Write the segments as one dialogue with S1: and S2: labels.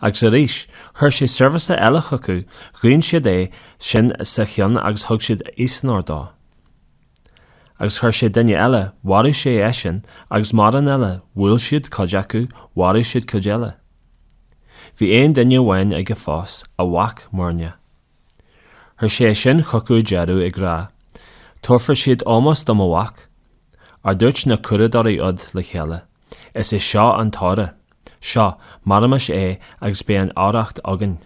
S1: Agus arís, chuir sé seirbhíseach eile chucu, ghoin siad é sin sa cheann agus thug siad easonóir dó. Agus chuir sé duine eile, mharaigh sé eisean, agus mórán eile, bhuail siad cuid acu, mharaigh siad cuid eile. Bhí aon duine amháin aige fós, a mhac, muirneach. Chuir sé é sin chucu ar deireadh, ag rá, Tabharfaidh siad ómós do mo mhac. Ach dúirt na curadóirí úd le chéile. Is é seo an t-oidhre. Seo, maraímis é agus beidh an oidhreacht againn.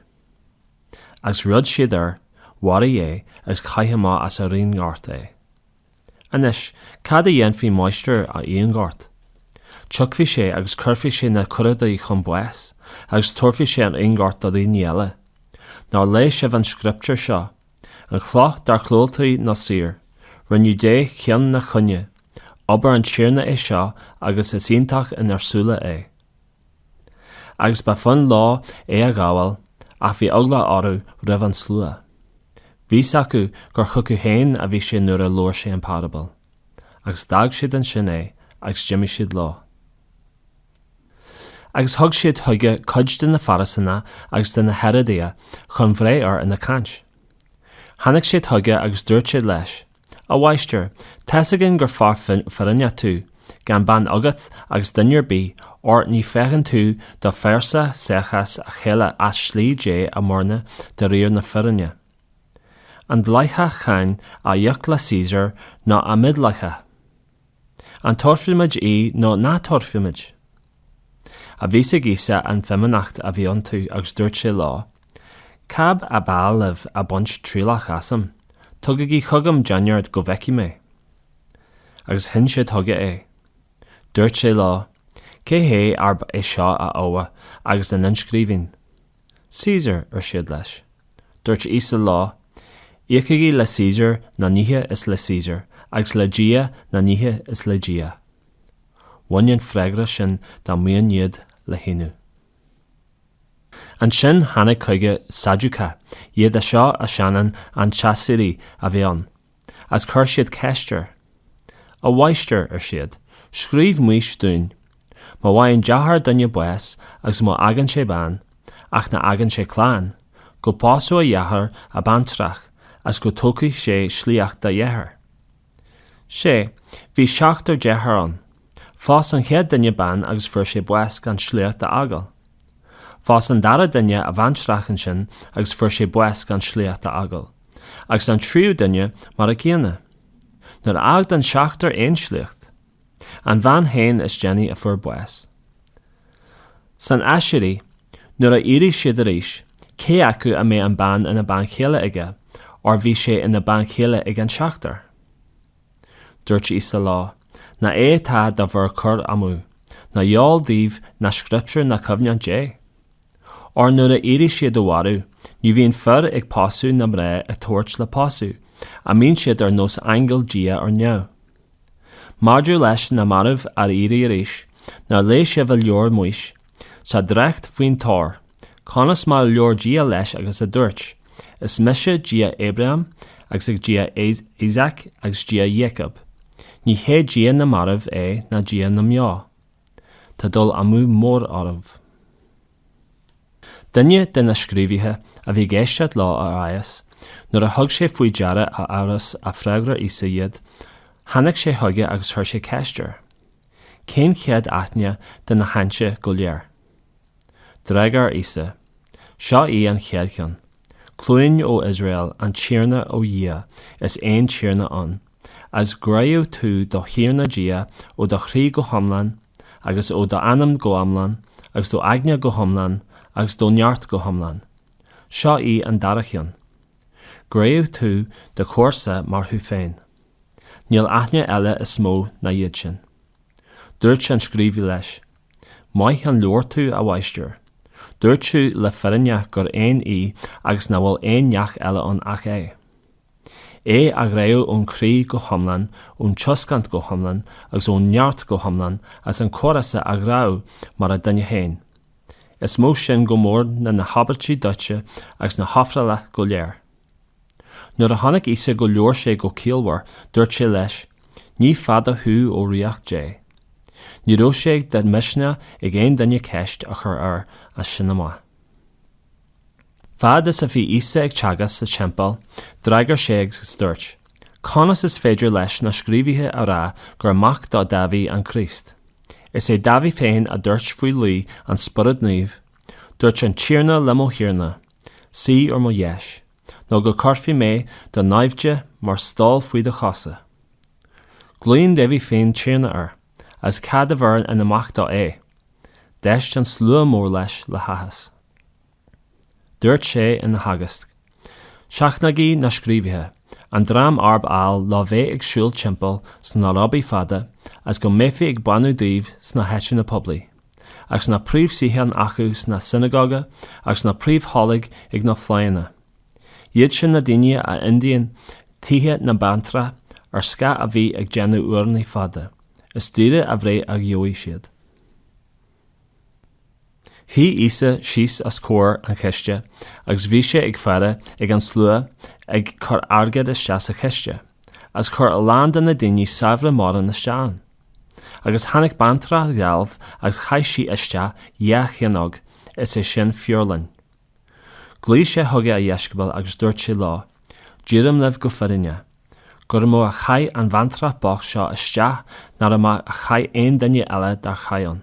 S1: Agus rug siad air, mharaigh é agus chaith amach as an bhfíonghort é. Anois, cad a dhéanfaidh máistir an fhíonghoirt? Tiocfaidh sé agus cuirfidh sé na curadóirí chun báis agus tabharfaidh sé an fíonghort do dhaoine eile. Nár léigh sibh an scrioptúr seo, An chloch dár dhiúltaigh na saoir. Rinneadh di ceann an chúinne. Obair an Tiarna é seo agus is iontach inár súile é. Agus ba fhonn leo é a ghabháil ach bhí eagla orthu roimh an slua. Bhí a fhios acu gur chucu féin a bhí sé nuair a labhair sé an parabal. Agus d'fhág siad ansin é agus d'imigh siad leo. Agus thug siad chuige cuid de na Fairisínigh agus de na Héaródaigh chun breith air ina chaint. Tháinig siad chuige agus dúirt siad leis, A Mháistir, tá a fhios againn gur fear fírinneach tú, gan beann agat agus duine ar bith, óir ní fhéachann tú do phearsa seachas a chéile ach slí Dé a mhúineadh de réir na fírinne. An dleathach cáin a íoc le Caesar nó an mídhleathach? An dtabharfaimid í nó ná tabharfaimid? Ach bhí a fhios ag Íosa an fhimíneacht a bhí iontu agus dúirt sé leo, Cad ab áil libh ag baint trialach asam, tugaigí chugam déanar go bhfeicfidh mé? Agus shín sé chuige é. Dúirt sé leo, Cé hé arb é seo a íomhá agus an inscríbhinn? Caesar, ar siad leis. Dúirt Íosa leo, Íocaigí le Caesar na nithe is le Caesar, agus le Dia na nithe is le Dia. Bhain an freagra sin dá mboinn iad le hionadh. Ansin tháinig chuige Sadúcaigh, iad seo a shéanann an t-aiséirí a bheith ann. is chuir siad ceist air. A Mháistir, ar siad, scríobh Maois dúinn, Má fhaigheann deartháir duine bás agus má fhágann sé bean, ach ná fágann sé clann, go bpósfadh a dheartháir an bhaintreach agus go dtógfaidh sé sliocht dá dheartháir. Sea, bhí seachtar deartháir ann. Phós an chéad duine bean agus fuair sé bás gan sliocht a fhágáil. Phós an dara duine a bhaintreach ansin agus fuair sé bás gan sliocht a fhágáil, agus an tríú duine mar an gcéanna. Níor fhág an seachtar aon sliocht, an bhean féin is déanaí a fuair bás. San aiséirí, nuair a éireoidh siad arís cé acu a mbeidh an bean ina bean chéile aige, óir bhí sé ina bean chéile ag an seachtar. Dúirt Íosa leo, Nach é atá do bhur gcur amú, nach eol daoibh na scrioptúir ná cumhacht Dé? Óir nuair a éireoidh siad ó mhairbh, ní bhíonn fir ag pósadh ná mná á dtabhairt le pósadh, a mbíonn siad ar nós aingil Dia ar neamh? Maidir leis na mairbh a éirí arís, nár léigh sibh i leabhar Maois, Sa dréacht faoin tor, conas mar a labhair Dia leis agus a dúirt, Is mise Dia Abrahám agus ag Dia Isaac agus Dia Iacóib, ní hé Dia na marbh é ná Dia na mbeo. Tá dul amú mór oraibh. Duine de na scríobhaithe a bhí ag éisteacht leo ag aighneas, nuair a thug sé faoi deara a fheabhas a fhreagair Íosa iad, tháinig sé chuige agus chuir sé ceist air. Cén chéad aithne de na haitheanta go léir? D'fhreagair Íosa, Seo í an chéad cheann, Cluin ó Iosrael, an Tiarna ár nDia is aon Tiarna ann, a's gráóidh tú do Thiarna Dia ó do chroí go hiomlán, agus ó d'anam go iomlán, agus do aigne go hiomlán, agus do neart go hiomlán. Seo í an dara cheann. Gráóidh tú do chomharsa mar thú féin. Níl aithne eile is mó ná iad sin. Dúirt an scríobhaí leis, Maith a labhair tú, a mháistir. Dúirt tú le fírinne gur aon é agus nach bhfuil aon neach eile ann ach é. É a ghráú ón croí go hiomlán, ón tuiscint go hiomlán agus ón neart go hiomlán agus an chomharsa a ghráú mar an duine féin. Is mó sin go mór ná na híobairtí dóite agus na hofrála go léir. Nuair a chonaic Íosa gur labhair sé go ciallmhar dúirt sé leis, Ní fada thú ó ríocht Dé. Ní raibh sé de mhisneach ag aon duine ceist a chur air as sin amach. Fad is a bhí Íosa ag teagasc sa Teampall, d'fhreagair sé agus dúirt, Conas is féidir leis na scríobhaithe a rá gur mac do Dáibhí an Críost? Is é Dáibhí féin a dúirt faoi luí an Spioraid Naoimh, Dúirt an Tiarna le mo Thiarna, Suigh ar mo dheis, nó go gcuirfidh mé do naimhde mar stól faoi do chosa. Glaonn Dáibhí féin Tiarna air. agus cad a bheireann ina mhac dó é? D'éist an slua mór leis le háthas. Dúirt sé ina theagasc, Seachnaígí na scríobhaithe, an dream arb áil leo bheith ag siúl timpeall sna róbaí fada agus go mbeifí ag beannú dóibh sna háiteanna poiblí, agus na príomhshuíocháin acu sna sionagóga agus na príomhthoilg ag na fleánna. Iad sin na daoine a ídíonn tithe na mbaintreach ar scáth a bheith ag déanamh urnaí fada, is daoire an bhreith a gheobhaidh siad. Shuigh Íosa síos os comhair an chiste agus bhí sé ag faire ag an slua ag cur airgead isteach sa chiste, agus chuir a lán de na daoine saibhre mórán isteach ann. Agus tháinig baintreach dhealbh agus chaith sí isteach dhá chianóg, is é sin feoirling. Ghlaoigh sé chuige a dheisceabail agus dúirt sé leo, Deirim libh go fírinneach, gur mó a chaith an bhaintreach bocht seo isteach ná mar a chaith aon duine eile dár chaith ann.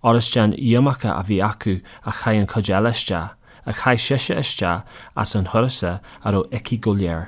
S1: Óir is den iomarca a bhí acu a chaith an chuid eile isteach, ach chaith sise isteach as a huireasa a raibh aici go léir.